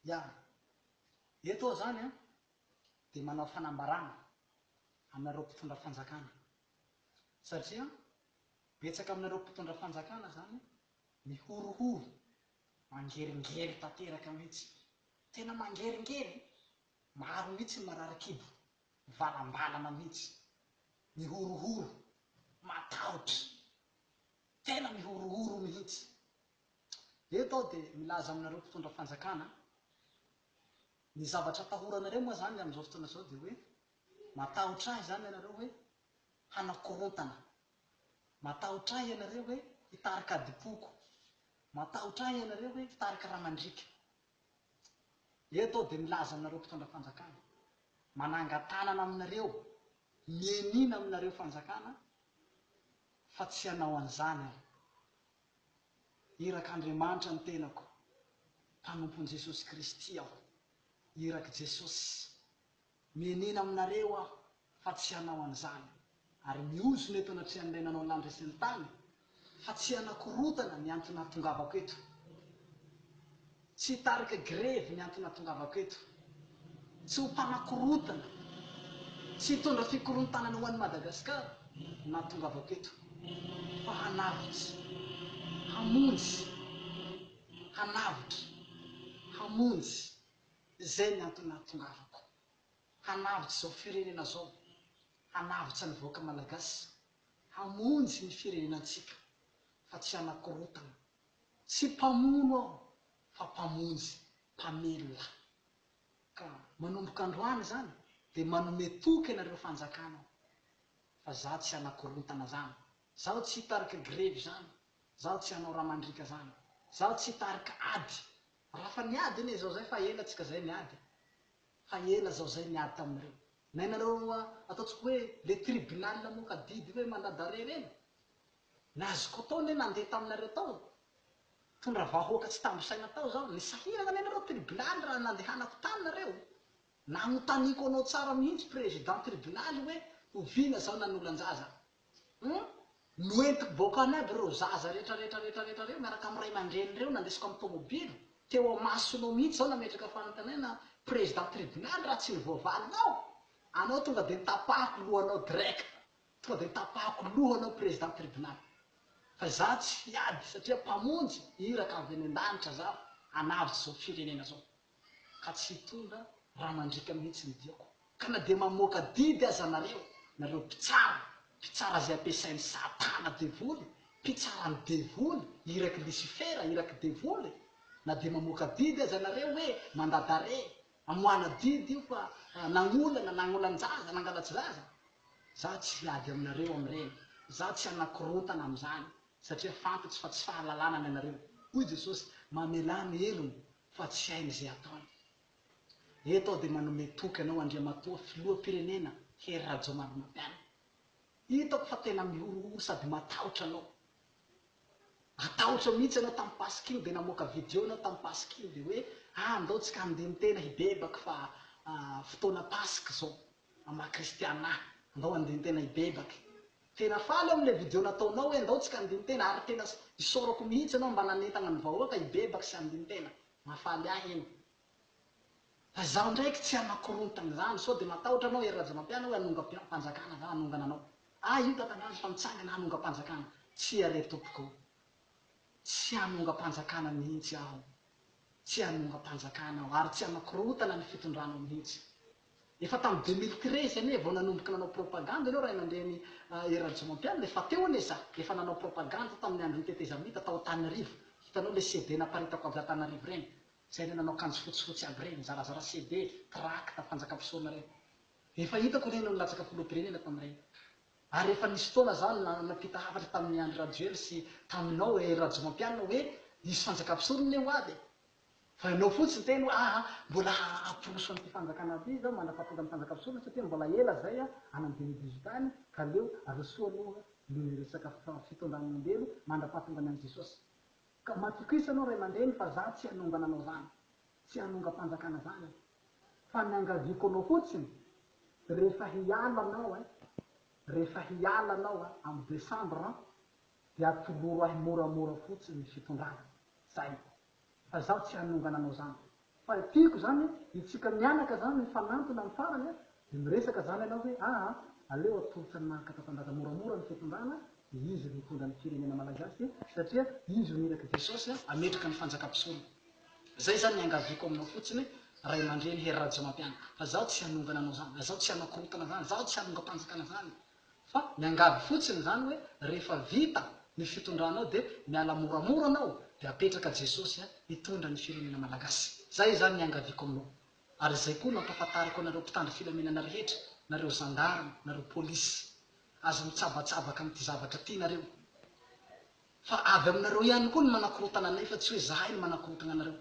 Ya. Eto aho izany an, dia manao fanambarana aminareo mpitondra fanjakana. Satria betsaka aminareo mpitondra fanjakana izany mihorohoro, mangeringery tanteraka mihitsy. Tena mangeringery, maro mihitsy ny marary kibo, mivalambalana mihitsy, mihorohoro, matahotra. Tena mihorohoro mihitsy. Eto aho dia milaza aminareo mpitondra fanjakana, ny zavatra atahoranareo moa izany amin'izao fotoana izao dia hoe matahotra ahy izany ianareo hoe hanao korontana, matahotra ahy ianareo hoe hitarika adim-poko, matahotra ahy ianareo hoe hitarika ra mandriaka. Eto aho dia milaza aminareo mpitondra fanjakana, manangan-tanana aminareo, mianiana aminareo fanjakana fa tsy hanao an'izany aho. Irak' Andriamanitra ny tenako, mpanompon'i Jesosy Kristy aho. Irak' Jesosy. Mienena aminareo aho fa tsy hanao an'izany, ary mihozona eto anatrehan'ilay nanao ny lanitra sy ny tany, fa tsy hanakorotana ny anton'ahatongavako eto. Tsy hitarika grevy ny antony natongavako eto. Tsy ho mpanakorontana, tsy hitondra fikorontanana ho an'i Madagasikara no nahatongavako eto, fa hanavotra, hamonjy, hanavotra, hamonjy, izay ny antony nahatongavako, hanavotra izao firenena izao, hanavotra ny vahoaka malagasy, hamonjy ny firenena antsika, fa tsy hanakorontana Tsy mpamono aho fa mpamonjy, mpamelona. Ka manomboka androany izany dia manome toky anareo fanjakana aho. Fa izaho tsy hanakorontana izany, izaho tsy hitarika grevy izany, izaho tsy hanao raha mandriaka izany, izaho tsy hitarika ady. Raha fa niady anie izao izay fa ela tsika izay niady e. Fa ela izao izay niady taminareo. Nainareo ataontsika hoe le tribunal moka adidy hoe mandat d'arret ireny? Nazoko tao anie nandeha taminareo tao, nitondra vahoaka tsy tambo saina tao zaho, nisahirana anie nareo tribilaly raha nandehanako tany nareo, nanotaniako anao tsara mihitsy président tribilaly hoe oviana zaho nanolan-jaza, hum, noentiko baokany aby ireo zaza rehetra rehetra rehetra rehetra reo miaraka amin'ny ray aman-dreny reo nandesiko amin'ny tomobilo, teo amasonao mihitsy zaho nametraka fanontaniana président tribilaly raha tsy ny voavalinao, anao tonga dia nitapahako lohanao direct, Tonga dia tapahako loha anao Président Tribunal fa izaho tsy hiady satria Mpamonjy iraka avy any an-danitra izaho hanavotra izao firenena izao ka tsy hitondra ra mandriaka mihitsy ny diako ka na dia mamoaka didy aza nareo, nareo mpitsara, mpitsara izay ampiasain'i Satana devoly, mpitsaran'ny devoly, irak'i Lisifera, irak'i devoly, na dia mamoaka didy aza nareo hoe mandat d'arrêt Hamoahana didy io fa nagnolana, nagnolan-jaza, nangalatsy zaza? Za tsy hiady aminareo amin'ireny, za tsy hanakorontana amin'izany, satria fantatro fa tsy fahalalana ny anareo, hoy Jesosy mamelà ny helony fa tsy hainy izay ataony. Eto aho dia manome toky anao Andriamatoa Filoham-pirenena Hery Rajaonarimampianina. Hitako fa tena mihorohoro sady matahotra anao, Matahotra mihitsy ianao tamin'ny pasik'io dia namoaka video ianao tamin'ny pasik'io dia hoe ah andao tsika handeha mitena hibebaka fa fotoana pasika izao maha kristiana ahy andao handeha mitena hibebaka tena faly aho amin'ilay video nataonao hoe andao tsika handeha mitena ary tena isaorako mihitsy ianao mba nanentana ny vahoaka hibebaka sy handeha mitena mahafaly ahy iny Fa zaho ndraiky tsy hanakorontana izany, sao dia matahotra anao Hery Rajaomampiana hoe hanongam-panjakana za hanongana anao. Ahy io Tatandraza fa mitsangana hanongam-panjakana, tsia re tompoko o. Tsy hanongam-panjakana mihitsy aho. Tsy hanongam-panjakana aho ary tsy hanakorontana ny fitondranao mihitsy. Efa tamin'ny deux mille treize anie vao nanomboka nanao propagande anao Ray aman-dreny Hery Rajaomampiana e, fa teo anie za efa nanao propagande tamin'ny andron'ny tetezamita tao Antananarivo, hitanao ilay CD naparitako avy Antananarivo ireny, Izay le nanao kanjo fotsifotsy aby reny, nizarazara CD, tracts, fanjakam-pisorona reny. Efa hitako reny no nilatsaka filoham-pirenena tamin'ireny. Ary efa nisy fotoana za nampita hafatra tamin'i Andry Rajoely sy taminao Hery Rajomampianina hoe hisy fanjakam-pisorona anie ho avy e! Fa ianao fotsiny teny hoe aa mbola hamporoso an'ity fanjakana ity izao mandrapahatonga ny fanjakam-pisorona satria mbola ela izay any amin'ny deux mille dix-huit any ka aleo arosoa aloha ny resaka fitondran'ny olombelo mandrapahatonga ny an'i Jesosy. Ka matokisa anao ray aman-dreny fa za tsy hanongana anao zany, tsy hanongam-panjakana zany aho, fa niangaviako anao fotsiny rehefa hiala anao an, rehefa hiala anao an amin'ny décembre an, dia atoloro ahy moramora fotsiny ny fitondrana, zay, fa zaho tsy hanongana anao zany. Fa ny tiako zany itsika mianaka zany mifanantona am farany a de miresaka zany ianao hoe aa aleo atolotra ny maha katapandraza moramora ny fitondrana de izy ro hitondra ny firenena malagasy satria izy ro niraky jesosy a ametraka ny fanjaka mpisolo zay zany niangaviako aminao fotsiny raimandreny hery rajaomampianina fa zaho tsy hanongana anao zany zaho tsy hanao korotana zany zaho tsy hanongampanjakana zany Fa miangavy fotsiny zany hoe rehefa vita ny fitondranao dia miala moramora anao dia apetraka Jesosy hitondra ny firenena Malagasy. Zay zany ny iangaviako aminao. Ary izay koa no ampahafantariko anareo mpitandro filaminana rehetra, nareo zandarme, nareo polisy. Aza mitsabatsabaka amin'ity zavatra ty nareo. Fa avy aminareo ihany koa ny manakorotana anay fa tsy hoe zahay no manakorotagna anareo.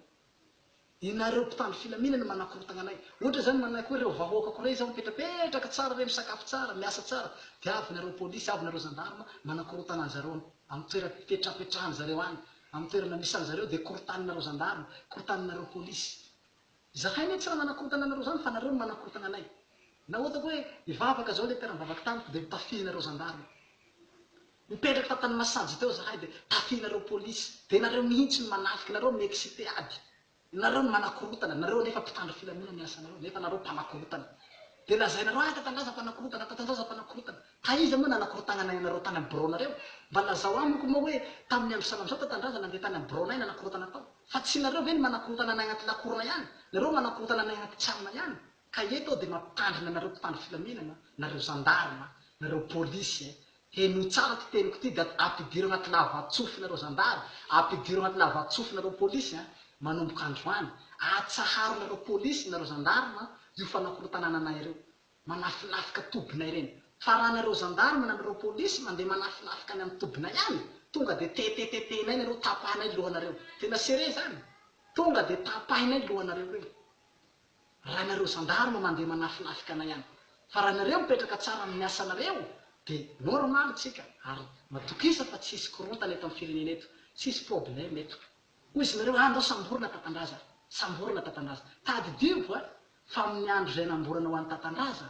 Ianareo mpitandro filaminana manakorontagna anay. Ohatra zany manako hoe reo vahoaka ko rey zao mipetrapetraka tsara rey misakafo tsara, miasa tsara dia avy nareo police, avy nareo gendarme manakorontana anzareo am toera pipetrapetrahan zareo any, am toerana misy anzareo dia korotanin nareo gendarme, korotanin nareo police. Zahay ne tsy ra manakorontana anareo zany fa nareo no manakorontagna anay. Na otako hoe hivavaka zao le mpiara mivavaka tamiko dia mitafihinareo gendarme. Nipetraka tao Tanimasisanjy teo zahay dia tafianareo polisy dia nareo mihintsy no manafiky nareo mi excite ady nareo no manakorotana nareo anefa mpitandro filamina ny asanareo nefa nareo mpanakorotana dia lazainareo ah tatandraza mpanakorotana tatandraza mpanakorotana taiza moa nanakorotagnanay anareo tany am bro nareo mba lazao amiko moa hoe tamin'ny andro sanandro zao tatandraza nandeha tany am bro nay nanakorotana tao fa tsy nareo ve no manakorotana anay agnaty lakorona ihany nareo manakorotana anay agnaty tranona ihany Ka eto aho dia mampitandrina anareo mpitandro filaminana, nareo zandarma, nareo polisy eh. Henoy tsara ity teniko ity dia ampidiro anaty lava-tsofy nareo zandary, ampidiro anaty lava-tsofy nareo polisy eh. Manomboka androany, atsaharo nareo polisy, nareo zandarma io fanakorontanana anay ireo. Manafinafika tobina ireny. Fa raha nareo zandarma na nareo polisy mandeha manafinafika any amin'ny tobina ihany, tonga dia tetetetehinay nareo, tapahinay lohanareo. Tena sérieux izany. Tonga dia tapahinay lohanareo ireny. raha nareo zandarme mandeha manafinafika anay any fa raha nareo mipetraka tsara amin'ny asanareo de normal tsika ary matokisa fa tsy hisy korontana eto amin'ny firenena eto tsy hisy probleme eto hoy izy nareo andao samborina tatandraza samborina tatandraza tadidio a fa amin'ny andro izay namborana ho an'i tatandraza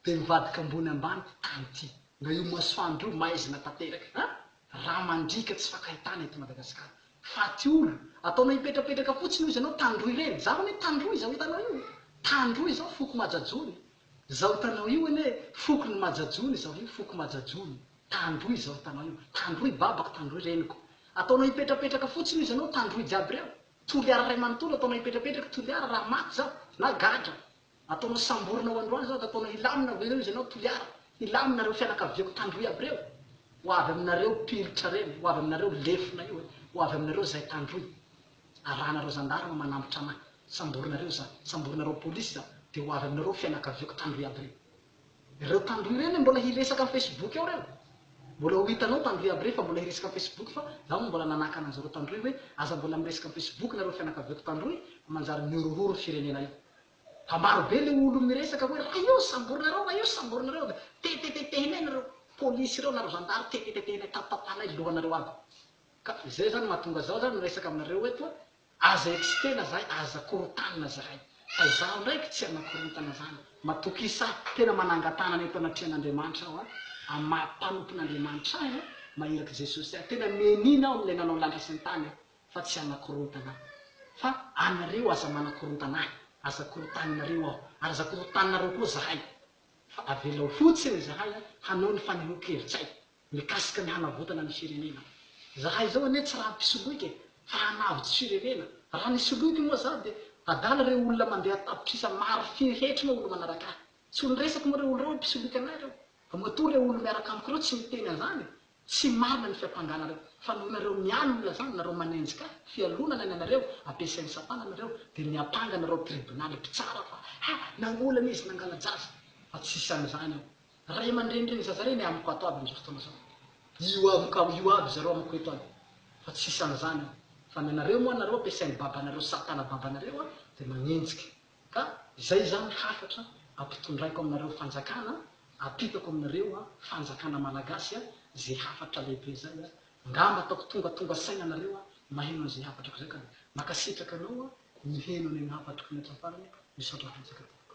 Dia mivadika ambony ambany tany ty. Na io masoandro io maizina tanteraka a! Rà mandriaka tsy fakahitana eto Madagasikara. Faty olo. Ataonao hipetrapetraka fotsiny hoy izy anao tandroy ireny. Za anie tandroy izao hitanao io. Tandroy izao foko Majajony. Izao hitanao io anie fokon'i Majajony izao io foko Majajony. Tandroy izao hitanao io. Tandroy babako tandroy reniko. Ataonao hipetrapetraka fotsiny hoy izy anao tandroy jiaby ireo. Toliara iray manontolo ataonao hipetrapetraka toliara raha maty zaho na gadra. Ataonao samborina ho androany zao de ataonao hilamina avy eo izy anao Toliara hilamina reo fianakaviako tandroy aby reo ho avy aminareo pilitra reny ho avy aminareo lefona io e ho avy aminareo zay tandroy arahanareo zandarma manambotra anah samborina reo za samborina reo polisy za de ho avy aminareo fianakaviako tandroy aby reny Ireo tandroy ireo le mbola hiresaka am facebook ao reo Mbola ho hitanao tandroy iaby rey fa mbola hiresaka am facebook fa zaho mbola nanakana anzareo tandroy hoe aza mbola miresaka am facebook nareo fianakaviako tandroy fa manjary mihorohoro ny firenena io Fa maro be le olo miresaka hoe ra io samborinareo ra io samborinareo de tetetetehinay nareo polisy ireo na ry zandary tetetetehinay tapatapahanay lohanareo aby Ka izay zany mahatonga zaho zany miresaka aminareo eto Aza eksikena zahay aza korontanina zahay fa izaho ndraiky tsy hanakorontana zany matoky isa tena manangatanana eto anatrehan'Andriamanitra aho an amin'ny maha mpanompon'Andriamanitra ahy an maha irak'i Jesosy ahy tena mianiana aho amin'ilay nanao lanitra sy ny tany an fa tsy hanakorontana aho fa anareo aza manakorontana ahy aza korontaninareo aho ary aza korontaninareo koa zahay fa avelao fotsiny zahay an hanao ny fanehoan-kevitr'ay Mikasika ny hanavotana ny firenena. Zahay izao anie tsy raha mpisoloika e, fa hanavotsy firenena. Raha ny soloiko moa za dia adala ireo olona mandeha tapitrisa maro firy hetry moa olo manaraka ahy. Tsy olo resako moa ireo olo ireo hoe mpisoloika anay ireo. Fa matoa ireo olo miaraka amiko ireo tsy miteny an'izany e. Tsy marina ny fiampanganareo. Fa noho nareo mihaino olona zany, nareo manenjika ahy, fialonana ny anareo, ampiasain'ny satana anareo, dia miampanga anareo tribonaly mpitsara fa ha! nangolana izy, nangala-jaza. Fa tsisy an'izany ao. Ray aman-dreny reny zaza reny amiko ato aby amzao fotoana zao. Io avy ka io aby zareo amiko eto aby fa tsisy anzany io fa ny anareo moa anareo ampiasainy babanareo satana babanareo a de magnenjika ka izay zany hafatra ampitondraiko aminareo fanjakana apitako aminareo a fanjakana malagasy a ze hafatra lehibe zay a ngamba ataoko tongatonga saina anareo a maheno anze hafatrako zay ka mankasitraka anao a miheno an'iny hafatrako iny hatramin'ny farany a misaotra betsaka tompoko.